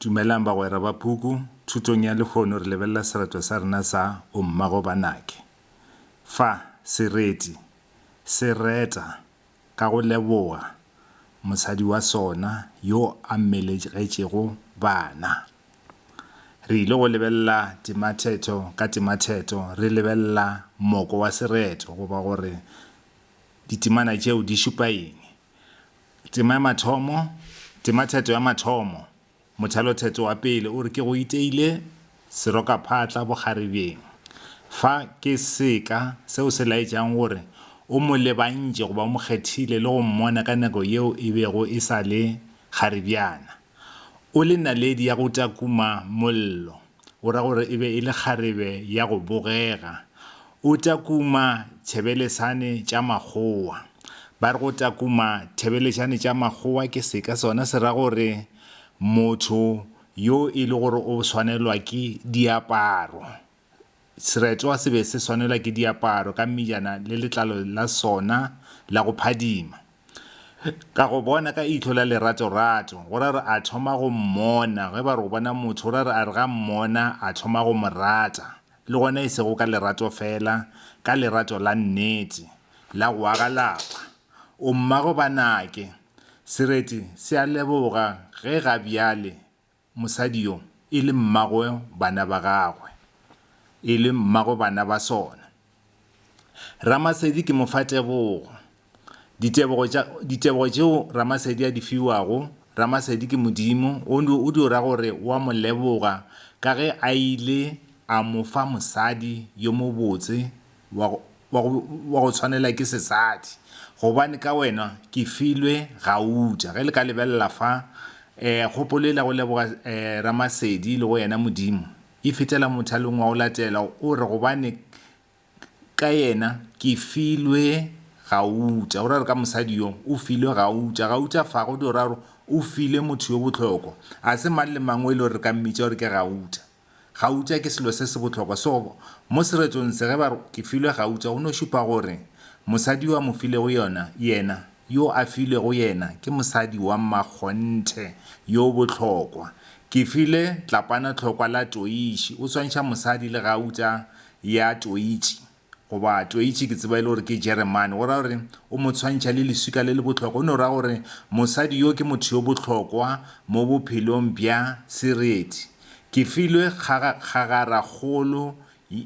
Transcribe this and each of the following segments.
Dumelang bagwera ba puku. Thutong ya lehono re lebelela sereto sa rena sa O Mmago ba Nake. Fa, sereti se reta ka go leboga mosadi wa sona yo a mmelegetšego bana. Re ile go lebelela tematheto ka tematheto re lebelela moko wa sereto goba gore ditemana tšeo di šupa eng. Tema ya mathomo, Tematheto ya mathomo, Mothalotheto wa pele o re ke go iteile serokaphatla bokgarebjeng. Fa ke seka seo se laetšang gore o mo lebantše goba o mo kgethile le go mmona ka nako yeo e bego e sa le kgarebjana. O le naledi ya go takuma mollo, o ra gore e be e le kgarebe ya go bogega. O takuma tšhebelesane tša makgowa. Ba re go takuma thebelešane tša makgowa ke seka sona se ra gore motho yo e le gore o swanelwa ke diaparo. Seretwa se be se swanelwa ke diaparo ka mmejana le letlalo la sona la go phadima. Ka go bona ka ihlo la leratorato, go ra re a thoma go mmona, ge ba re o bona motho, go ra re a re ga mmona a thoma go mo rata, le gona e sego ka lerato fela, ka lerato la nnete, la go aga lapa. O mmago ba nake. Sereti se a leboga ge ga bjale Mosadi yo, e le mmagwe bana ba gagwe, e le mmagwe bana ba sona. Ramasedi ke mo fa tebogo. Ditebogo tša, ditebogo tšeo Ramasedi a di fiwago, Ramasedi ke Modimo, o, o dio ra gore o a mo leboga ka ge a ile a mo fa mosadi yo mobotse wa go tshwanela ke sesadi gobane ka wena ke filwe gauta. Ge le ka lebelela fa, kgopolo yela ya go leboga Ramasedi le go yena Modimo e fetela mothalong wa go latela o re, gobane ka yena ke filwe gauta. O ra gore ka mosadi yo o filwe gauta. Gauta fa go dira gore o filwe motho yo bohlokwa. Ga se mang le mang o e le gore re ka mmitša gore ke gauta. Gauta ke selo se se bohlokwa seo mo seretong se ge ba re ke filwe gauta go no šupa gore mosadi yo a mo filego yona, yena, yo a filwego yena ke mosadi wa mmakgonthe yo bohlokwa. Ke file Tlapana tlhokwa la toitši o swantšha mosadi le gauta ya toitši. Goba Toitši, ke tseba e le gore ke Jeremane, go ra gore o mo tshwantšha le leswika le le bohlokwa. O no ra gore mosadi yo ke motho yo bohlokwa mo bophelong bja Sereti. Ke filwe kgagarakgolo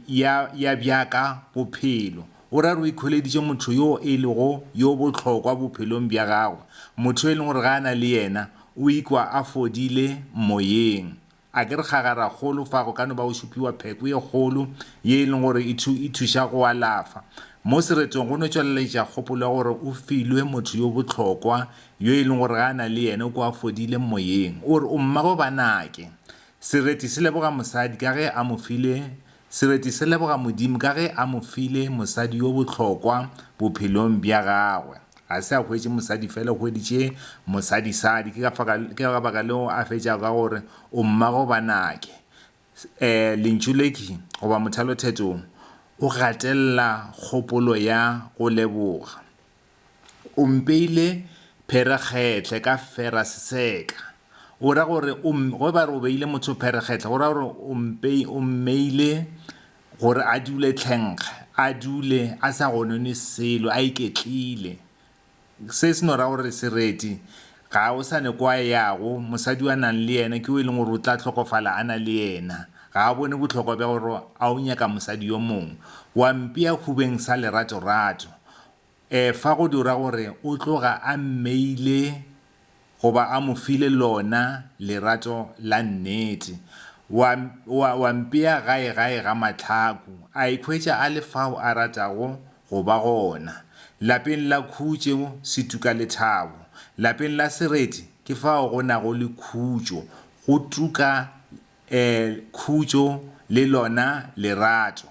ya, ya bjaka bophelo. O ra gore o ikholeditše motho yo e lego yo bohlokwa bophelong bja gagwe, motho yo e leng gore ge a na le yena o ikwa a fodile moyeng. A ke re kgagaragolo fa go ka no ba go šupiwa pheko ye kgolo ye e leng gore e, thu, e thuša go alafa. Mo seretong go no tšweleletša kgopolo ya gore o filwe motho yo bohlokwa yo e leng gore ge a na le yene o kwa a fodile moyeng. O re, O mmabo banake. Sereti se leboga mosadi ka ge a mo file, sereti se leboga Modimo ka ge a mo file mosadi yo bohlokwa bophelong bja gagwe. Ga se a hwetše mosadi fela, o hweditše mosadisadi. Ke ka, ke ka baka leo a fetšago ka gore o mmago banake. E, lentšu le ke goba mothalotheto o, o gatelela kgopolo ya go leboga. O mpeile pherekgetlhe ka feraseseka. O ra gore o, ge ba re o beile motho pherekgetlhe, go ra gore o mpe, o mmeile gore a dule tlhenkga, a dule a sa gonone selo, a iketlile. Se se no ra gore sereti ga o sa ne kwa yago, mosadi wa nang le yena ke o e leng gore o tla tlhokofala a na le yena. Ga a bone bohlokwa bja gore a o nyaka mosadi yo mongwe. Wa mpea hubeng sa leratorato. Efa go dira gore o tloga a mmeile goba a mo file lona lerato la nnete. Wa, wa, wa mpea gae gae ga mahlaku, a ikhwetša a le fao a ratago go ba gona. Lapeng la khutšo se tuka lethabo. Lapeng la sereti ke fao go nago le khutšo, go tuka Khutšo le lona lerato.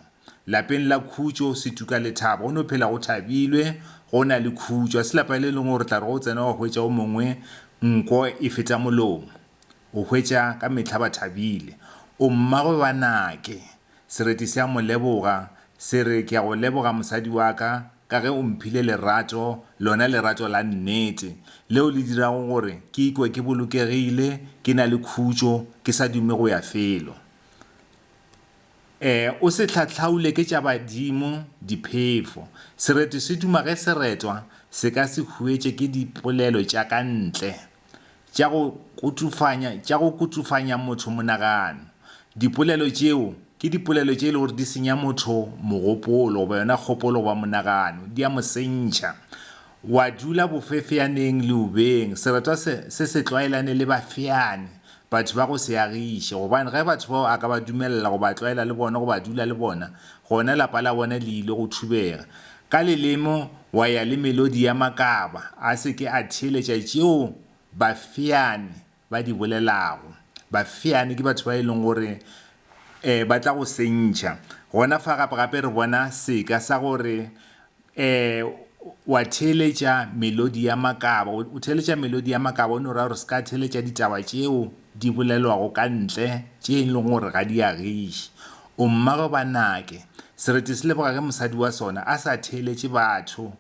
Lapeng la Khutšo, Setuka le Thabo go no phela go thabilwe, go na le khutšo. Ga se lapa le lengwe o re tla re ga o tsena wa hwetša o mongwe nko e feta molomo. O hwetša ka mehla ba thabile. O mmagwe ba Nake. Sereti se a mo leboga, se re, Ke a go leboga mosadi wa ka, ka ge o mphile lerato, lona lerato la nnete, leo le dirago gore ke ikwe ke bolokegile, ke na le khutšo, ke sa dume go ya felo. E, o se hlahlaule ke tša badimo, diphefo. Sereti se duma ge se retwa, se ka se huetše ke dipolelo tša ka ntle. tša go kutšufanya, tša go kutšufanya motho monagano. Dipolelo tšeo ke dipolelo tše e lego gore di senya motho mogopolo goba yona kgopolo goba monagano, di a mo sentšha. Wa dula bofefeaneng leubeng, seretwa se se se tlwaelane le bafeani, Batho ba go seagiše, gobane ge batho bao a ka ba dumelela go ba tlwaela le bona goba a dula le bona, gona lapa la bona le ile go thubega. Ka leleme wa ya le melodi ya makaba, a se ke a theeletša tšeo bafeane ba di bolelago. Bafeane ke batho ba e leng gore ba tla go sentšha. Gona fa gape-gape re bona seka sa gore Ee, wa theeletša melodi ya makaba. O theeletša melodi ya makaba, o no ra gore se ka theeletša ditaba tšeo di bolelwago ka ntle, tše e lego gore ga di agiše. O mmago ba nake. Sereti se leboga ge mosadi wa sona a sa theeletše batho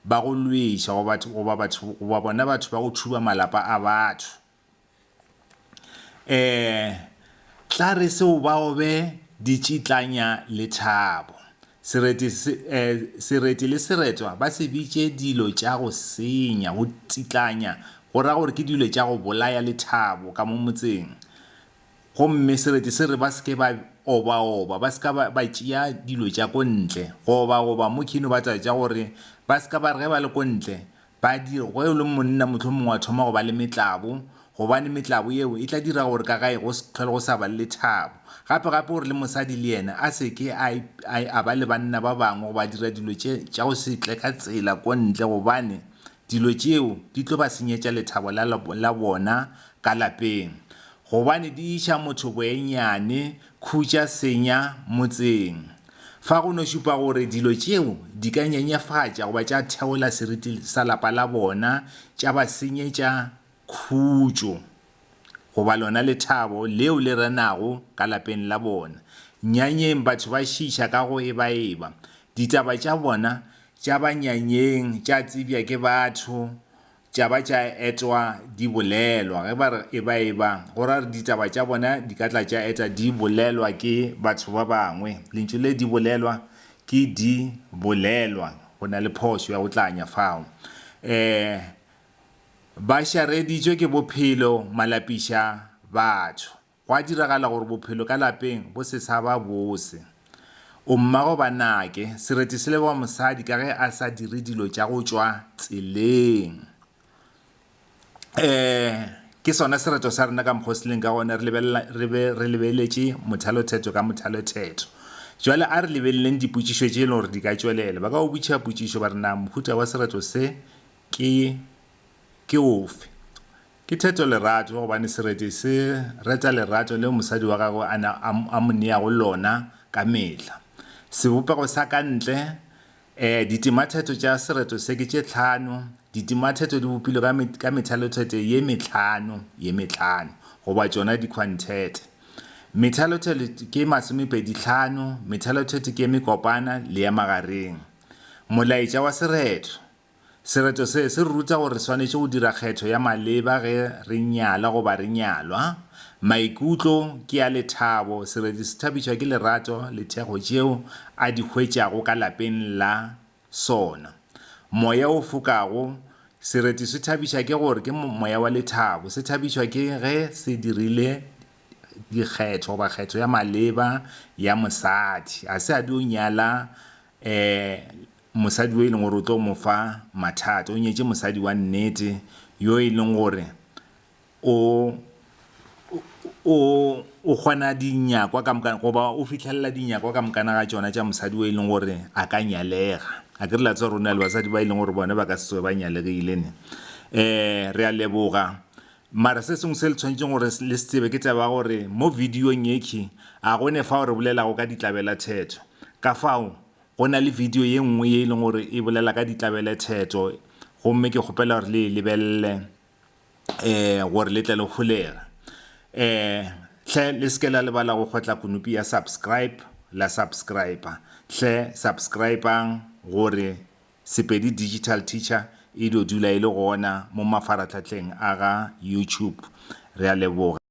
ba go lweša goba bona batho ba go thuba malapa a batho. Ee, tla re se o bao be ditšitlanya lethabo. Sereti, eh, sereti le seretwa ba se bitše dilo tša go senya, go tšitlanya, go ra gore ke dilo tša go bolaya lethabo ka mo motseng. Gomme sereti se re ba se ke ba obaoba, ba se ka ba ba tšea dilo tša ko ntle. Go obaoba mo khino ba tšwa tša gore ba se ka ba re ge ba le ko ntle, Badiri, Go yo le monna mohlomongwe wa thoma go ba le metlabo, gobane metlabo yeo e tla dira gore ka gae go se tlhole go sa ba le lethabo. Gape, gape gore le mosadi le yena a se ke a, a, a ba le banna ba bangwe goba a dira dilo tše, tša go se tle ka tsela ko ntle, gobane dilo tšeo di tlo ba senyetša lethabo la, la, la bona ka lapeng. Gobane di iša motho boenyane, khutša senya motseng. Fa go no šupa gore dilo tšeo di ka nyenyefatša goba tša theola seriti sa lapa la bona, tša ba senyetša khutšo goba lona lethabo leo le renago ka lapeng la bona. Nyanyeng batho ba šiiša ka go ebaeba. Ditaba tša bona tša banyanyeng tša tsebja ke batho tša ba tša etwa di bolelwa, ge ba re eba-eba, go ra gore ditaba tša bona di ka tla tša eta di bolelwa ke batho ba bangwe. Lentšu le di bolelwa ke di bolelwa, go na le phošo ya go tlanya fao. Um Ba šareditšwe ke bophelo, malapiša batho. Gwa diragala gore bophelo ka lapeng bo se sa ba bose. O mmago ba nake, sereti se leboga mosadi ka ge a sa dire dilo tša go tšwa tseleng. Ee, ke sona sereto sa rena ka mokgwa o se leng ka gona, re lebelela, re be re lebeletše mothalothetho ka mothalothetho. Bjale a re lebeleleng dipotšišo tše e lego gore di ka tšwelela. Ba ka go botšiša potšišo ba re, Na mohuta wa sereto se ke, ke ofe? Ke theto lerato gobane sereti se reta lerato leo mosadi wa gagwe a neng a mo neago lona ka mehla. Sebopego sa ka ntle, ee, ditimatheto tša sereto se ke tše tlhano. Ditimatheto di bopilwe ka, ka methalotheto ye metlhano, ye metlhano, goba tšona dikhwanthete. Methalotheto ke masomepedi tlhano, methalotheto ke ye mekopana le ya magareng. Molaetša wa sereto, Sereto se se re ruta gore re swanetše go dira kgetho ya maleba ge re nyala goba re nyalwa. Maikutlo ke a lethabo. Sereti se thabišwa ke lerato le thekgo tšeo a di hwetšago ka lapeng la sona. Moya o fokago, Sereti se thabiša ke gore ke moya wa lethabo. Se thabišwa ke ge se dirile dikgetho goba kgetho ya maleba ya mosadi. Ga se a dio nyala um mosadi yo e leng gore o tlo mo fa mathata o nyetše mosadi wa nnete yo e leng gore o o o kgona dinyakwa ka moka goba o fitlhelela dinyakwa ka mokana ga tšona tša mosadi o e leng gore a ka nyalega a ke re la tsa rona le basadi ba e leng gore bone ba ka se tsoge ba nyalegile ne um re a leboga Mara se sengwe se le tshwanetšeng gore le se tsebe ke taba ya gore mo videong yekhi a go ne fao re bolelago ka ditlabelathetho. Ka fao go na le video ye nngwe ye e leng gore e bolela ka ditlabelethetho gomme ke kgopela gore le e lebelele um gore le tle le holege. Um hle le se ke la lebala go kgotla konopi ya subscribe la subscriber. Hle subscribe-ang gore. Sepedi Digital Teacher e dio dula e le gona mo mafaratlhatlheng a ga YouTube. Re a leboga.